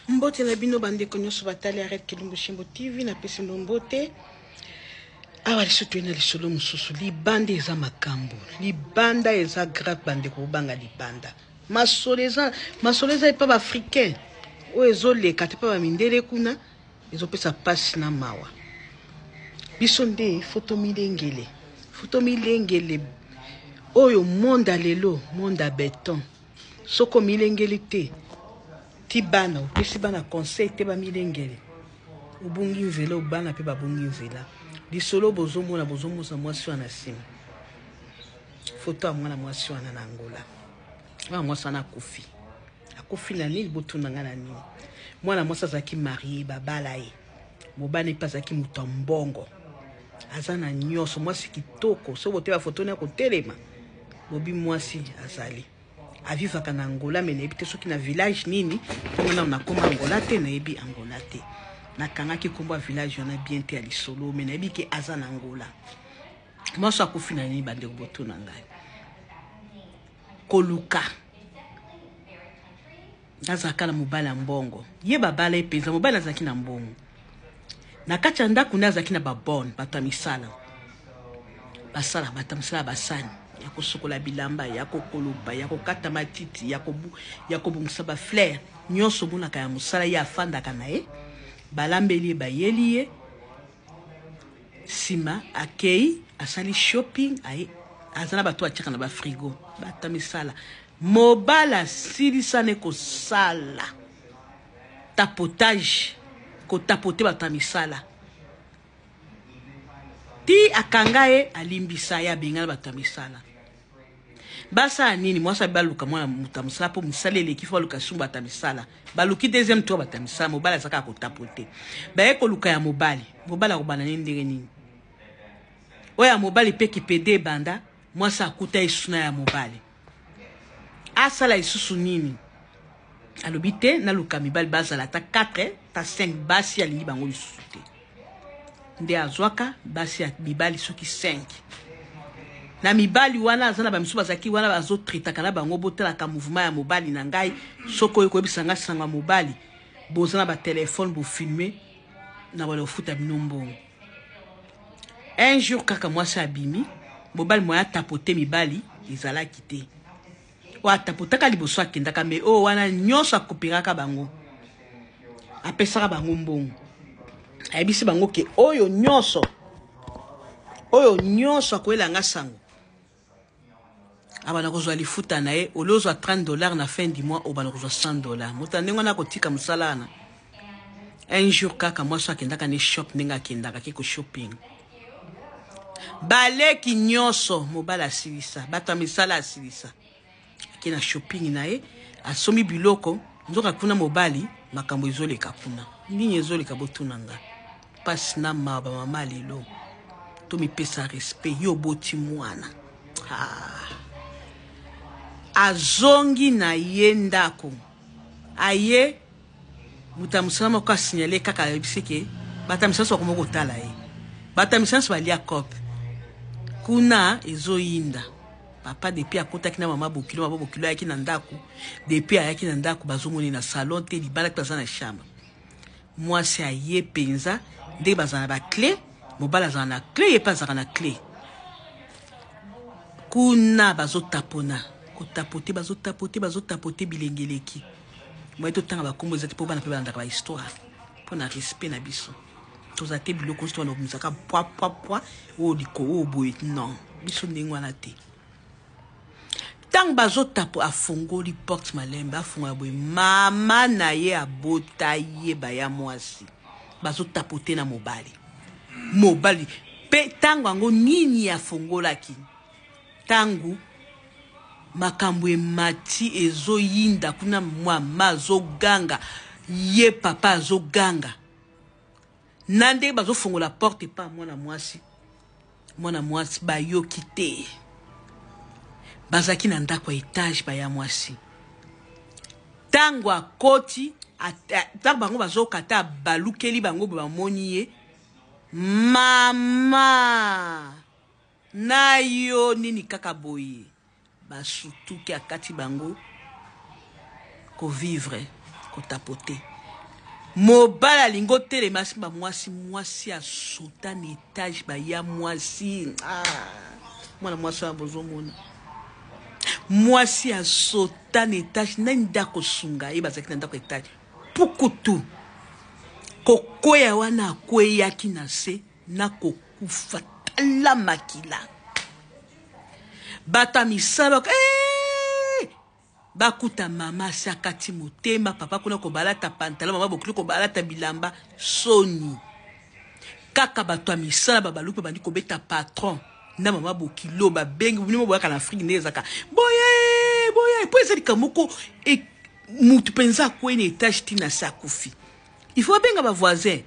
Mbote na bino bandeko nyonso batali Arrête Kilumbu Shimbo TV, napesi bino mbote. awa lisu toye na lisolo mosusu libanda eza makambo libanda eza grave bandeko bobanga libanda masolo eza masolo eza epa baafricain oyo ezoleka te mpe bamindele kuna ezopesa mpasi na mawa biso nde foto milengele foto milengele oyo monde ya lelo monde ya beton Soki omilengeli te, ti bana, opesi bana conseil te bamilengele. Obungi nzela, bana pe babungi nzela. Lisolo bozomona, bozomosa mwasi wana na sima. Foto ya mwana mwasi wana na Angola. Mwana mwasi wana akufi. Akufi na nini? Botuna nga na nini? Mwana mwasi azalaki marie, babala ye. Mobali pe azalaki moto ya mbongo. Aza na nyonso, mwasi kitoko. Soki oteba foto wana akotelema. Bobi mwasi azali avivaka na Angola me nayebi te soki na village nini ntango nano nakoma Angola te nayebi Angola te nakangaki nkombo ya village wana bien te ya lisolo me nayebi ke aza na Angola mwasi akufi na nini bandeko botuna ngai koluka Naza kala mobali ya mbongo. Ye babala ye penza mobali azalaki na mbongo. Na kati ya ndako nde azalaki na babone bato ya misala basala bato ya misala basani ya kosokola bilamba ya kokoloba ya kokata matiti ya, kobu, ya kobongisa baflere nyonso omonaka ya mosala ye afandaka na ye balambeli ye bayeli ye nsima akei asali shopping aye aza na bato atyaka na bafrigo bato ya misala Mobali asilisa ne kosala tapotage ko tapoter batu ya misala ti akanga ye alimbisa ye abengana batu ya misala basala nini mwasi abi baluka mwana moto ya mosala mpo mosala eleki fo baluka sumba ata misala baluki deuxième tour bato ya misala mobali azaka ya kotapo te baye koluka ya mobali mobali akobanda nini ndenge nini oyo ya mobali mpe kipede ebanda mwasi akuta esuna ya mobali asala lisusu nini alobi te naluka mibali bazala ata 4 ta 5 basi alingi bango lisusu te nde azwaka basi ya mibali soki 5 na mibali wana aza na bamisu bazalaki wana bazotretaka na bango botalaka mouvement ya mobali na ngai soki oyo koyebisa ngai sango ya mobali boza na batelefone bofilme na bana kofuta bino mbongo un jour kaka mwasi abimi mobali moye atapote mibali ezalaki te oyo atapotaka liboso akendaka me oyo wana nyonso akopekaka bango apesaka bango mbongo ayebisi bango ke oyo nyonso oyo nyonso akoyela nga sango abanda kozwa lifuta na ye olio ozwa 30 dollars na fin du mois obanda kozwa 100 dollars moto ya ndenge wana akotika mosala wana un jour kaka mwasi oyo akendaka ne shop ndenge akendaka ke ko shopping baleki nyonso mobali asilisa bato ya misala asilisa ake na shopping na ye asombi biloko nzoka kuna mobali makambo ezoleka kuna nini ezoleka botuna nga mpasi na mawa bamama lelo tomipesa respect yo oboti mwana ah. azongi na ye ndako aye Moto ya mosala moko a signaler kaka ayebisi ke bata misala nso bakoma kotala ye. Bata misala nso balia coop. Kuna ezoyinda. Papa depuis akotaki na mama Bokilo, mama Bokilo ayaki na ndako. Depuis ayaki na ndako bazomona ye na salon te, libala mpe baza na chambre. Mwasi aye penza ndenge bazala na ba clé, mobali azala na clé ye mpe azalaka na clé. Kuna bazotapona, kotapote, bazotapote, bazotapote bilenge eleki. boye totanga bakombo eza te mpo bana mpe balandaka bahistware mpo na respect na biso toza te biloko nyonso wana okomisaka pwapwapwa oyo likolo oyo boye non biso ndenge wana te ntango bazotapo afongoli porte malembe afongola boye mama na ye abota ye baya mwasi bazotapo te na mobali mobali mpe ntango yango nini afongolaki Tango makambo emati ezoyinda kuna mama azoganga ye papa azoganga na ndenge bazofongola porte epa mwana mwasi mwana mwasi bayoki te bazalaki na ndako ya etage baya mwasi ntango akoti ntango bango bazokata abalukeli bango bamoni ye mama Na yo nini kaka boye ba sutuki akati bango ko vivre ko tapote mobali alingi otelema simba mwasi mwasi a sauta na etage ba ya mwasi ah mwana mwasi wana bozo mona mwasi a sauta na etage nani nde akosunga ye bazalaki na ndako etage pukutu kokweya wana akweyaki na se na ko kufa tala makila bato ya misala hey! Eh! bakuta mama asi akati motema papa kuna kobalata pantalo mama bokoki kobalata bilamba soni kaka bato ya misala babaluki babandi kobeta patron na mama bokilo babengi bino boyaka na afrike nde ezaka boye boye mpo eza likambo moko e, motu mpenza akwei na etage ntina asi akufi Il faut abenga ba voisin.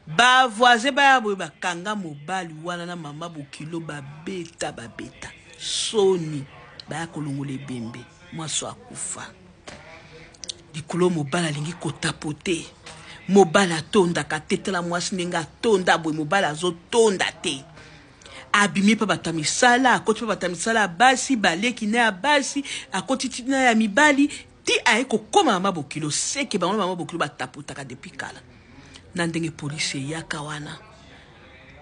Ba voisin baya boye bakanga mobali wana na mama bokilo babeta babeta. Soni baya kolongola ebembe mwaso akufa. Likolo mobali alingi kotapote. Mobali atondaka te tala mwasi ndenge atonda boye mobali azotonda te. abimi mpe bato ya misala akoti mpe bato ya misala ya basi baleki na ya basi akoti ti na ya mibali Ti aye kokoma mama bokilo seke bango na mama bokilo ba tapotaka depuis kala na ndenge police eyaka wana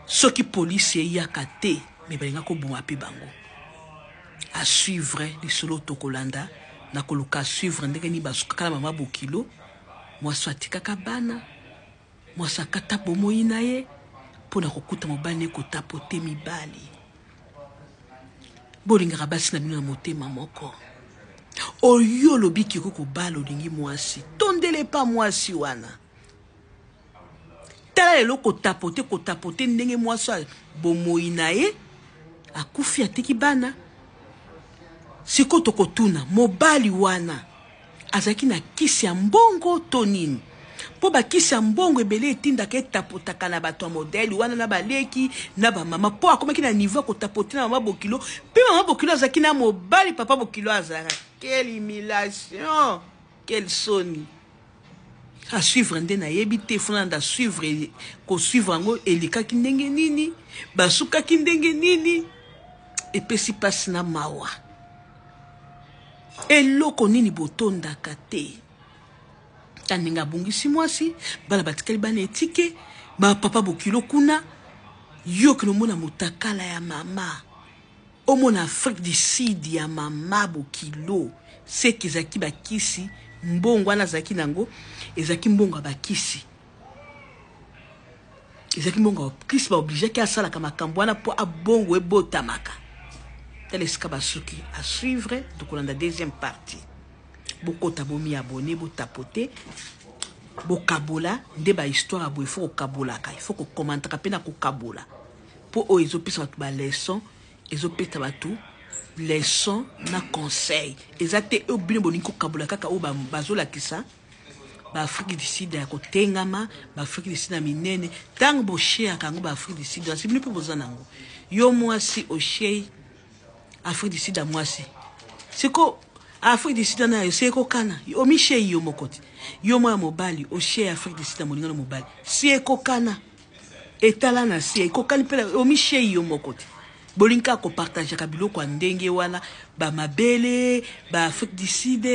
soki police eyaka te mais balinga koboma pe bango à suivre lisolo tokolanda na koluka suivre ndenge nini basukaka na mama bokilo mwasi atikaka bana Mwasi akata bomoyi na ye mpo na kokuta mobali na ye kotapote mibali. Bolingaka basi na bino na motema moko. Oyo olobi kiko kobala olingi mwasi, tondele epa mwasi wana. Tala lelo kotapote kotapote ndenge mwasi ya bomoyi na ye akufi atiki bana. Sikoyo tokotuna mobali wana. Azalaki na kisi ya mbongo to nini? mpo bakisi ya mbongo ebele etindaka etapotaka na bato ya modele wana na baleki na bamama mpo akomaki na niveau ya kotapote na mama bokilo mpe mama bokilo azalaki na mobali papa bokilo azalaka quelle humiliation quelle soni asuivre nde nayebi te funa nda suivre kosuivre yango elekaki ndenge nini basukaki ndenge nini epesi mpasi na mawa eloko nini botondaka te kaninga abungisi mwasi bana batikali bana etike bapapa bokilo kuna yoki nomona motakala ya mama omona afrique du sud ya mama bokilo seke ezalaki bakisi mbongo wana azalaki na yango ezalaki mbongo ya bakisi ezalaki mbongo ya kristo baobligeaki asalaka makambo wana mpo abongo ebotamaka tala esika basuki a suivre tokolanda deuxième partie bokota bomi abone botapote bokabola nde bahistoire ya boye ifo kokabolaka ifo kokomantaka mpe na kokabola mpo oyo ezopesa bato baleson ezopesa bato leson na conseil eza te oyo bino bolingi kokabola kaka oyo bazolakisa ba ba Afrique du Sud ya kotengama ba Afrique du Sud ya minene ntango bosheaka yango ba Afrique du Sud asi bino mpe boza na yango yo mwasi oshei Afrique du Sud ya mwasi siko Afrique du Sud wana yayo si ekokana omishei yo moko te yo mwana mobali oshei Afrique du Sud ya molingano mobali si ekokana etala na se ekokani mpe omishei yo moko te bolingi kaka kopartageaka biloko ya ndenge wana bamabele ba Afrique du Sud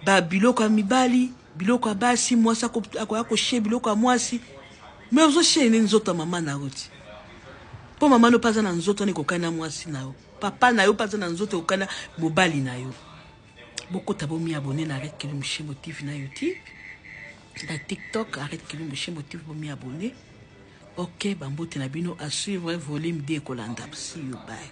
ba biloko ya mibali biloko ya basi mwasi akoya koshe biloko ya mwasi me ozoshe nini nzoto ya mama na yo ti mpo mama no mpe aza na nzoto wana ekokani na mwasi na yo papa na yo mpe aza na nzoto ekokani na mobali na yo bokota bomiabone na arete kili moshimo tv na youtube na tiktok arete kili moshimo tv bomiabone ok bambote na bino a suivre volume 2 ekolanda see you bye